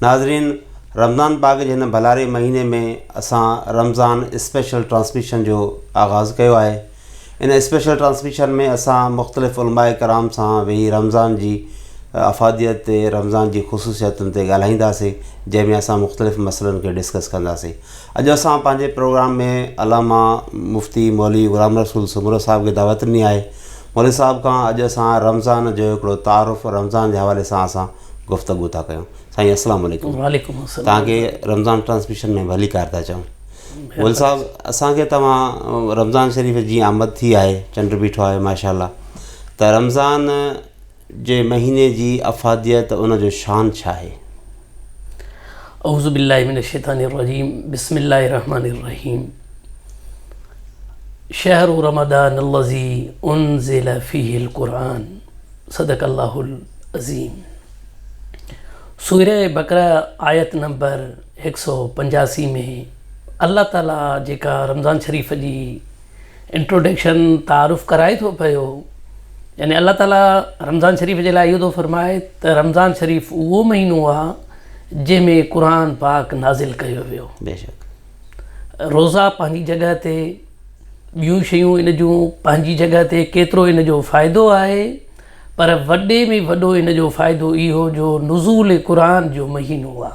ناظرين رمضان پاڪ جي هن ڀلاري مهيني ۾ اسان رمضان اسپيشل ٽرانسميشن جو آغاز ڪيو آهي ان اسپيشل ٽرانسميشن ۾ اسان مختلف علماء ڪرام سان ويهي رمضان جي افاديت تي رمضان جي خصوصيتن تي ڳالهائينداسين جنهن ۾ اسان مختلف مسئلن کي ڊسڪس ڪنداسين اڄ اسان پنهنجي پروگرام ۾ علامه مفتي مولوي غلام رسول سومرو صاحب کي دعوت ڏني آهي مولوي صاحب کان اڄ اسان رمضان جو هڪڙو تعارف رمضان جي حوالي سان اسان گفتگو ٿا ڪيون سائين السلام عليڪم وعليڪم السلام توهان کي رمضان ٽرانسميشن ۾ ڀليڪار ٿا چئون ول صاحب اسان کي توهان رمضان شريف جي آمد ٿي آهي چنڊ بيٺو آهي ماشاء الله ته رمضان جي مهيني جي افاديت ان جو شان ڇا آهي اعوذ بالله من الشيطان الرجيم بسم الله الرحمن الرحيم شهر رمضان الذي انزل فيه القرآن صدق الله العظيم سورة بقرة آيت نمبر هڪ سؤ پنجاسي ۾ الله تعالي جيڪا رمضان شريف جي انٽروڊڪشن تعارف ڪرائي ٿو پيو يعني الله تعالي رمضان شريف جي لاء اهو ٿو فرمائي ته رمضان شريف اهو مهينو آهي جنهن ۾ قرآن پاڪ نازل ڪيو ويو روزا پنهنجي جڳهه تي ٻيون شيون ان جون پنهنجي جڳهه تي ڪيترو ان جو فائدو آهي پر وڏي ۾ وڏو ان جو فائدو اهو جو نزول قرآن جو مهينو آ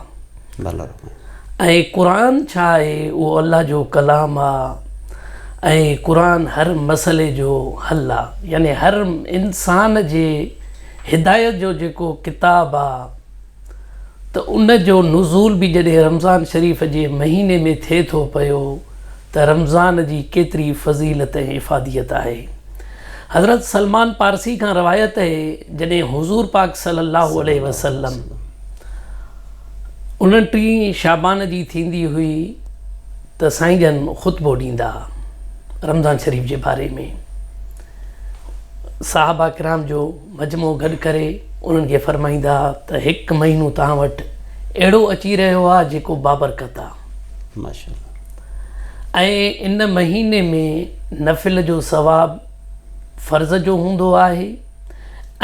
۽ قرآن ڇا آهي اهو الله جو ڪلام آ ۽ قرآن هر مسئلي جو حل آ يعني هر انسان جي هدايت جو جيڪو ڪتاب آ ته ان جو نزول به جڏهن رمضان شريف جي مهيني ۾ ٿئي ٿو پيو ته رمضان جي ڪيتري فضيلت ۽ افاديت آهي. حضرت سلمان پارسي کان روايت اهي جڏهن حضور پاڪ صلي الله عليه وسلم انٽيهين شعبان جي ٿيندي هئي ته سائين جن خطبو ڏيندا ها رمضان شريف جي باري ۾ صحابه ڪرام جو مجموعو گڏ ڪري انهن کي فرمائيندا ته هڪ مهينو توهان وٽ اهڙو اچي رهيو آهي جيڪو بابرڪت آهي ۽ ان مهيني ۾ نفل جو ثواب فرض جو هوندو آهي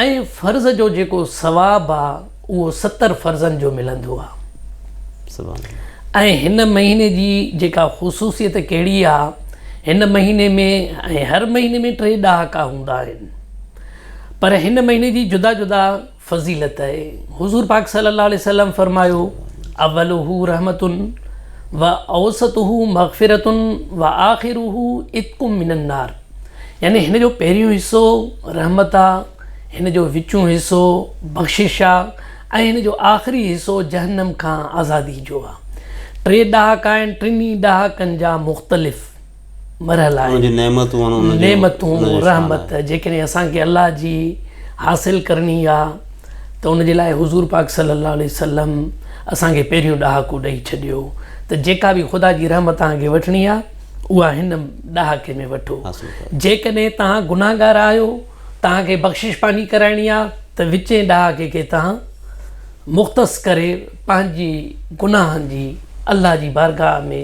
۽ فرض جو جيڪو ثواب آهي اهو ستر فرضن جو ملندو آهي ۽ هن مهيني جي جيڪا خصوصيت ڪهڙي آهي هن مهيني ۾ ۽ هر مهيني ۾ ٽي ڏهاڪا هوندا آهن. پر هن مهيني جي جدا جدا فضيلت آهي حضور پاڪ صلي الله عليه وسلم فرمايو اولوه رحمتن و اوسطه مغفرتن و آخره اتق من النار يعني هن جو پهريون حصو رحمت آ هن جو وچون حصو بخشش آ ۽ هن جو آخري حصو جهنم کان آزادي جو آ ٽي ڏهاڪا آهن ٽنهي ڏهاڪن جا مختلف مرحل آهن. نعمتون، رحمت، جيڪڏهن اسان کي الله جي حاصل ڪرڻي آ ته ان جي لاء حضور پاڪ صلي الله عليه وسلم اسان کي پهريون ڏهاڪو ڏئي ڇڏيو ته جيڪا به خدا جي رحمت توهان کي وٺڻي آ اها هن ڏهاڪي ۾ وٺو. جيڪڏهن توهان گنهگار آهيو، توهان کي بخشش پنهنجي ڪرائڻي آ ته وچين ڏهاڪي کي توهان مختص ڪري پنهنجي گناهن جي الله جي بارگاهه ۾.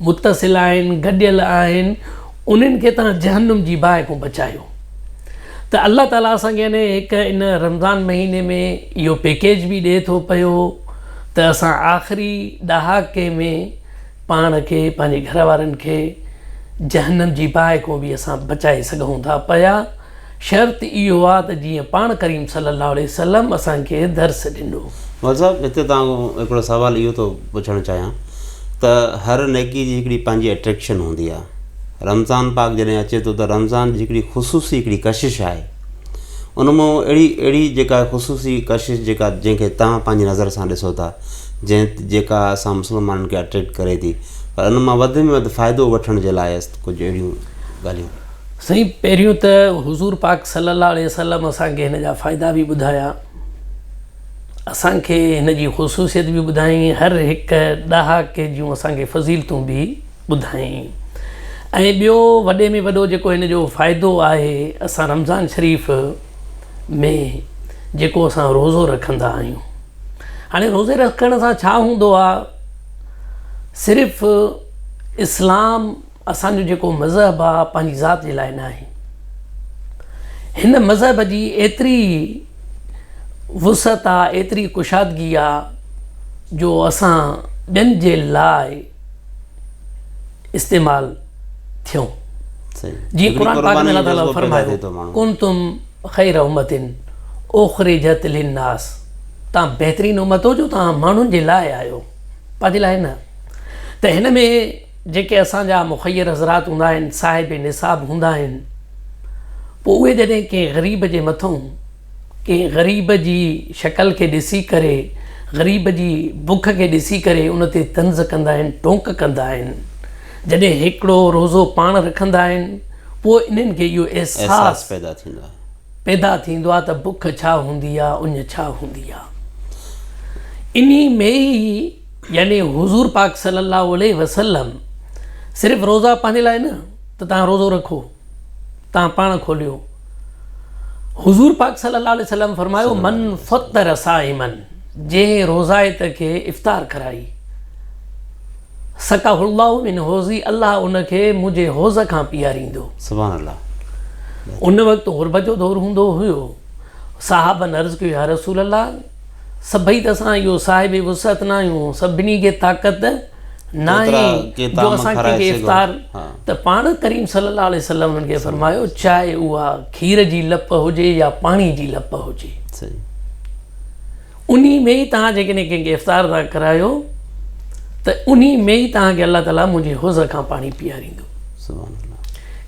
متصل آهن، گڏيل آهن، انهن کي توهان جهنم جي باهه کان بچايو. ته الله تعالي اسان کي يعني هڪ ان رمضان مهيني ۾ اهو پيڪيج به ڏئي ٿو پيو ته اسان آخري ڏهاڪي ۾ پاڻ کي پنهنجي گهر وارن کي جهنم جي باهه کان به اسان بچائي سگهون ٿا پيا. شرط اهو آ ته جيئن پاڻ ڪريم صلي الله عليه وسلم اسان کي درس ڏنو. مولوي صاحب هتي توهان کان هڪڙو سوال اهو ٿو پڇڻ چاهيان ته هر نيڪي جي هڪڙي پنهنجي اٽريڪشن هوندي آ رمضان پاڪ جڏهن اچي ٿو ته رمضان جي هڪڙي خصوصي هڪڙي ڪشش آهي ان مان اهڙي اهڙي جيڪا خصوصي ڪشش جيڪا جنهن کي توهان پنهنجي نظر سان ڏسو ٿا جنهن جيڪا اسان مسلمانن کي اٽريڪٽ ڪري ٿي پر ان مان وڌ ۾ وڌ فائدو وٺڻ جي لاء ڪجهه اهڙيون ڳالهيون سائين پهريون ته حضور پاڪ صلي الله عليه وسلم اسان کي هن جا فائدا به ٻڌايا اسان کي هن جي خصوصيت به ٻڌايائين هر هڪ ڏهاڪي جون اسان کي فضيلتون به ٻڌايائين ۽ ٻيو وڏي ۾ وڏو جيڪو هن جو فائدو آهي اسان رمضان شريف ۾ جيڪو اسان روزو رکندا آهيون هاڻي روزي رکڻ سان ڇا هوندو آهي صرف اسلام اسان جو جيڪو مذهب آ پنهنجي ذات جي لاء ناهي. هن مذهب جي ايتري وسعت آ ايتري ڪشادگي آ جو اسان ٻين جي لاء استعمال ٿيون. جيئن قرآن پاڪ ۾ الله تعاليٰ فرمايو ڪنتم خير امة اخرجت للناس تان بهترين امت هو جو تان ماڻهن جي لاء آهيو پنهنجي لاء نه ته هن ۾ جيڪي اسان جا مخير حضرات هوندا آهن، صاحب نصاب هوندا آهن، پوء اهي جڏهن ڪنهن غريب جي مٿئون، ڪنهن غريب جي شڪل کي ڏسي ڪري، غريب جي بک کي ڏسي ڪري ان تي طنز ڪندا آهن، ٽوڪ ڪندا آهن. جڏهن هيڪڙو روزو پاڻ رکندا آهن، پوء انهن کي اهو احساس پيدا ٿيندو آهي. پيدا ٿيندو آهي ته بک ڇا هوندي آهي، اڃ ڇا هوندي آهي. انهي ۾ ئي. يعني حضور پاڪ صلّي اللّٰه عليه وسلّم صرف روزا پنهنجي لاء نه ته توهان روزو رکو توهان پاڻ کوليو حضور پاڪ صلّي اللّٰه عليه وسلّم فرمايو من فطّر صائما جنهن روزائت کي افطار ڪرائي سقاه اللّٰه من حوضي الله ان کي منهنجي حوض کان پياريندو سبحان الله ان وقت غربت جو دور هوندو هيو صحابن عرض ڪيو يا رسول الله سڀئي ته اسان اهو صاحب وسعت ناهيون، سڀني کي طاقت ناهي جو اسان ڪنهن کي افطار ته پاڻ ڪريم صلي الله عليه وسلم انهن کي فرمايو چاهي اها کير جي لپ هجي يا پاڻي جي لپ هجي انهي ۾ ئي توهان جيڪڏهن ڪنهن کي افطار ٿا ڪرايو ته انهي ۾ ئي توهان کي الله تعالي منهنجي حوض کان پاڻي پياريندو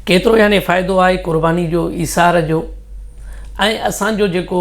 ڪيترو يعني فائدو آهي قرباني جو ايثار جو ۽ اسان جو جيڪو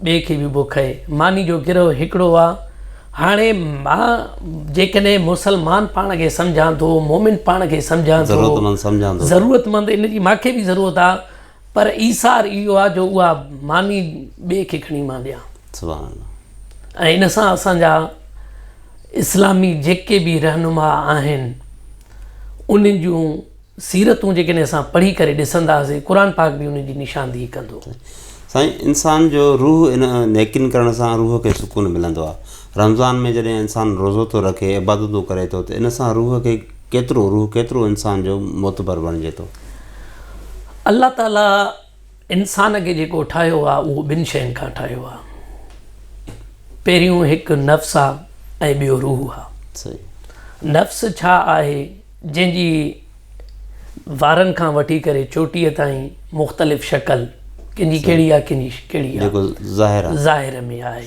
ٻئي کي به بک اهي. ماني جو گروهه هڪڙو آ. هاڻي مان جيڪڏهن مسلمان پاڻ کي سمجهان ٿو، مومن پاڻ کي سمجهان ٿو، ضرورتمند سمجهان ٿو ته. ضرورتمند ان جي مانکي به ضرورت آ، پر ايثار اهو آ جو اها ماني ٻئي کي کڻي مان ڏيان. سبحان الله. ۽ ان سان اسان جا اسلامي جيڪي به رهنما آهن انهن جون. سيرتون جيڪڏهن اسان پڙهي ڪري ڏسنداسين قرآن پاڪ به ان جي نشاندهي ڪندو. سائين انسان جو روح ان نيڪين ڪرڻ سان روح کي سڪون ملندو آ رمضان ۾ جڏهن انسان روزو ٿو رکي عبادتون ڪري ٿو ته ان سان روح کي ڪيترو روح ڪيترو انسان جو معتبر بڻجي ٿو. الله تعالي انسان کي جيڪو ٺاهيو آهي اهو ٻن شين کان ٺاهيو آهي پهريون هڪ نفس آهي ۽ ٻيو روح آهي نفس ڇا آهي جنهن جي وارن کان وٺي ڪري چوٽيء تائين مختلف شڪل ڪنهن جي ڪهڙي آهي ڪنهن جي ڪهڙي آهي ظاهر ۾ آهي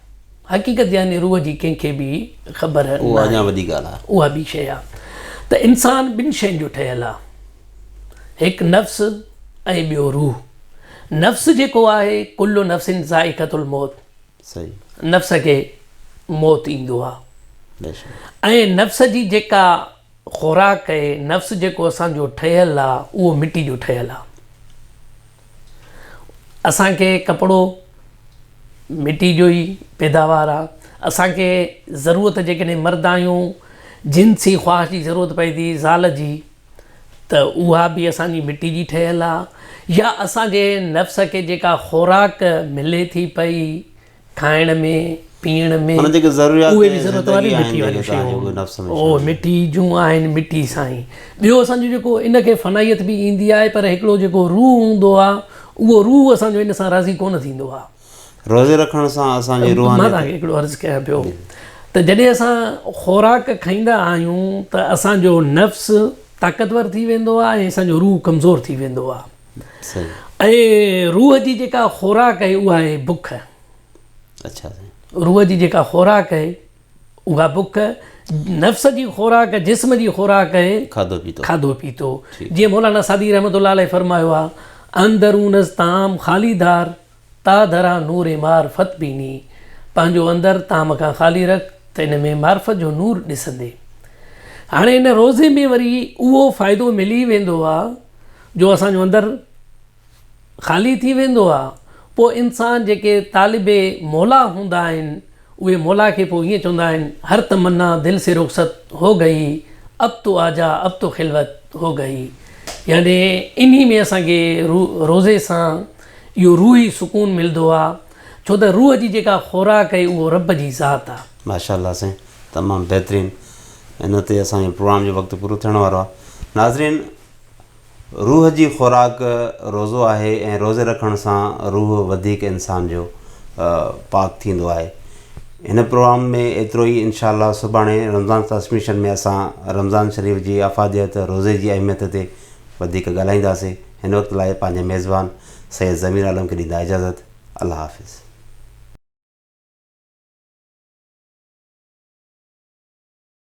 حقيقت يعني روح جي ڪنهن کي به خبر ناهي. اها ٻي شيء آهي ته انسان ٻن شين جو ٺهيل آهي. هڪ نفس ۽ ٻيو روح. نفس جيڪو آهي ڪل نفس ذائقة الموت نفس کي موت ايندو آهي ۽ نفس جي جيڪا خوراڪ نفس جيڪو اسان جو ٺهيل آهي اهو مٽي جو ٺهيل آهي. اسان کي ڪپڙو مٽي جو ئي پيداوار آ اسان کي ضرورت جيڪڏهن مرد آهيون جنسي خواهش جي ضرورت پئي ٿي زال جي ته اها به اسان جي مٽي جي ٺهيل آ يا اسان جي نفس کي جيڪا خوراڪ ملي ٿي پئي کائڻ ۾ پيئڻ ۾ اهي به ضرورت واريون مٺي واريون شيون اهو مٺي جون آهن مٺي سائين ٻيو اسان جو جيڪو ان کي فنائيت به ايندي آهي پر هڪڙو جيڪو روح هوندو آهي اهو روح اسان جو ان سان راضي ڪونه ٿيندو آهي روزي رکڻ سان اسان جي روحانيت مان توهان کي هڪڙو عرض ڪيان پيو ته جڏهن اسان خوراڪ کائيندا آهيون ته اسان جو نفس طاقتور ٿي ويندو آهي ۽ اسان جو روح ڪمزور ٿي ويندو آهي ۽ روح جي جيڪا خوراڪ آهي اها آهي بک روح جي جيڪا خوراڪ آهي اها بک نفس جي خوراڪ جسم جي خوراڪ آهي کاڌو پيتو جيئن مولانا سعدي رحمت الله عليه فرمايو آهي اندرونس تام خالي دار تا درا نور معرفت بيني، پنهنجو اندر تام کان خالي رک ته ان ۾ معرفت جو نور ڏسندي. هاڻي ان روزي ۾ وري اهو فائدو ملي ويندو آ جو اسان جو اندر خالي ٿي ويندو آ، پوء انسان جيڪي طالب موليٰ هوندا آهن، اهي مولا کي پوء ائين چوندا آهن، هر تمنا دل سي رخصت هو گئي، اب تو آجا اب تو خلوت هو گئي. يعني انهي ۾ اسان کي روزي سان اهو روحي سڪون ملدو آ، ڇو ته روح جي جيڪا خوراڪ آهي اهو رب جي ذات آ. ماشاء الله سائين تمام بهترين ان تي اسان جو پروگرام جو وقت پورو ٿيڻ وارو آ ناظرين. روح جي خوراڪ روزو آهي ۽ روزي رکڻ سان روح وڌيڪ انسان جو پاڪ ٿيندو آهي هن پروگرام ۾ ايترو ئي انشاء الله سڀاڻي رمضان ٽرانسميشن ۾ اسان رمضان شريف جي افاديت روزي جي اهميت تي وڌيڪ ڳالهائينداسين هن وقت لاء پنهنجي ميزبان سيد ضمير عالم کي ڏيندا اجازت الله حافظ.